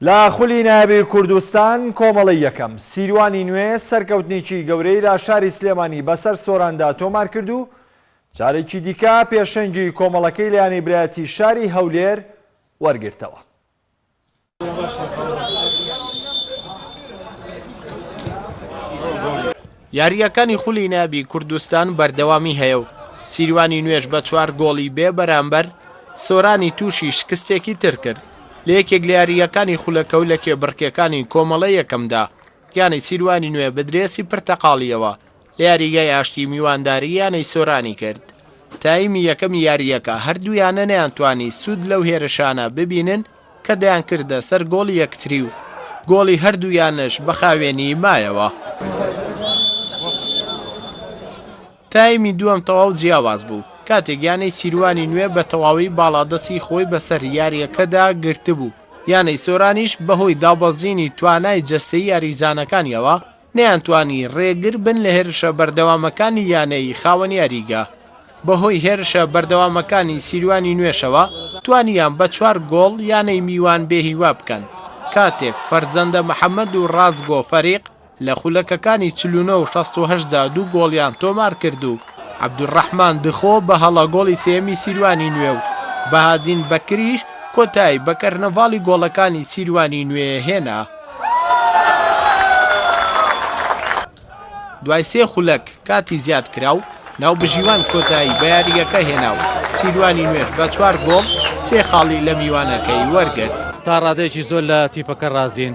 لە خولی نایابی کوردستان کۆمەڵەی یەکەم، سیروانی نوێ سەرکەوتنێکی گەورەی لە شاری سلێمانی بەسەر سۆراندا تۆمارکرد و جارێکی دیکە پێشەنگی کۆمەڵەکەی لە یانەی برایەتی شاری هەولێر وەرگرتەوە. یارییەکانی خولی نایابی کوردستان بەردەوامی هەیە و سیروانی نوێژ بە چوار گۆڵی بێ بەرامبەر سۆرانی تووشی شکستێکی تر کرد لە یەکێک لە یارییەکانی خولەکە و لە کێبڕکێکانی کۆمەڵە یەکەمدا یانەی سیروانی نوێ بە درێسی پرتەقاڵییەوە لە یاریگای ئاشتی میوانداری یانەی سۆرانی کرد. تایمی یەکەمی یارییەکە هەردوو یانە نەیانتوانی سوود لەو هێرشانە ببینن، کە دەیانکردە سەر گۆڵی یەکتری و گۆڵی هەردوو یانەش بە خاوێنی مایەوە. تایمی دووەم تەواو جیاواز بوو، کاتێک یانەی سیروانی نوێ بە تەواوی باڵادەستی خۆی بەسەر یارییەکەدا گرتبوو، یانەی سۆرانیش بەهۆی دابەزینی توانای جەستەیی یاریزانەکانییەوە، نەیانتوانی رێگر بن لە هێرشە بەردەوامەکانی یانەی خاوەن یاریگا، بەهۆی هێرشە بەردەوامەکانی سیروانی نوێشەوە توانیان بە چوار گۆڵ یانەی میوان بێهیوا بکەن، کاتێک فەرزەندە محەمەد و رازگۆ فەریق لە خولەکەکانی چل و نۆ و شەست و هەشت دا دوو گۆڵیان تۆمارکرد و عەبدولڕەحمان دخۆ بە هەڵە گۆڵی سێیەمی سیروانی نوێ و بەهادین بەکریش کۆتایی بە کەرنەڤاڵی گۆڵەکانی سیروانی نوێ هێنا. دوای سێ خولەک کاتی زیادکراو، ناوبژیوان کۆتایی بە یاریگەکە هێنا و سیروانی نوێش بە چوار گۆڵ سێ خاڵی لە میوانەکەی وەرگرت. تا ڕادەیەکی زۆر لە تیپەکە ڕازین،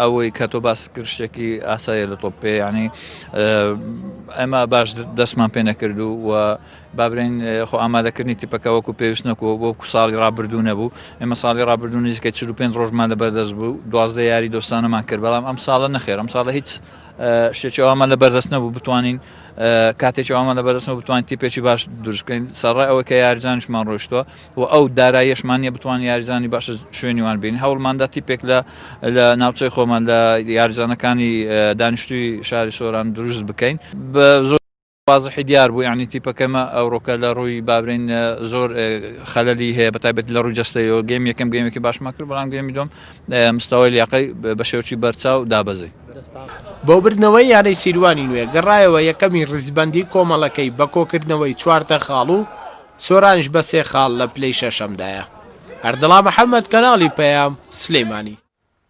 ئەوەی کە تۆ باست کرد شتێکی ئاساییە لە تۆپ پێ یعنی ئەمە باش دەستمان پێ نەکرد و و بابرین خۆ ئامادەکردنی تیپەکە وەکو پێویست نەکووە بۆ کو ساڵی ڕابردوو نەبوو ئێمە ساڵی ڕابردوو نزیکە چ و پێنج ڕۆژمان لە بەردەست بوو دوازدە یاری دۆستانەمان کرد بەڵام ئەم ساڵە نەخێر ئەم ساڵە هیچ شتێکەوەمان لە بەردەست نەبوو بتوانین کاتێکەوەمان لە بەردەستەوە بتوانین تیپێکی باش دروستکەین سەڕای ئەوە کە یارجانشمان ڕۆشتوە و ئەو داراییەشمان نیە بتوانین یاریزانی باش شوێنی وان بینین هەوڵماندا تیپێک لە لە ناوچەی خۆمان لە یاریزانەکانی دانیشتوی شاری سۆران دروست بکەین بە زۆر وازحی دیار بوو یعنی تیپەکەمە ئەوڕۆکە لە ڕووی بابرین زۆر خەلەلی هەیە بە تابێت لە ڕووی جستەوە گەم یەکەم گەمێکی باشمان کرد بەڵام گەمی دۆم مستەوەی لیاقی بە شێوچی بەرچا و دابەزی بۆ بردنەوەی یانەی سیروانی نوێ گەڕایەوە یەکەمی ڕیزبەندی کۆمەڵەکەی بە کۆکردنەوەی چواردە خاڵ و سۆرانش بە سێ خاڵ لە پلەی شەشەمدایە. ئەردڵا محەمەد کەناڵی پەیام، سلێمانی.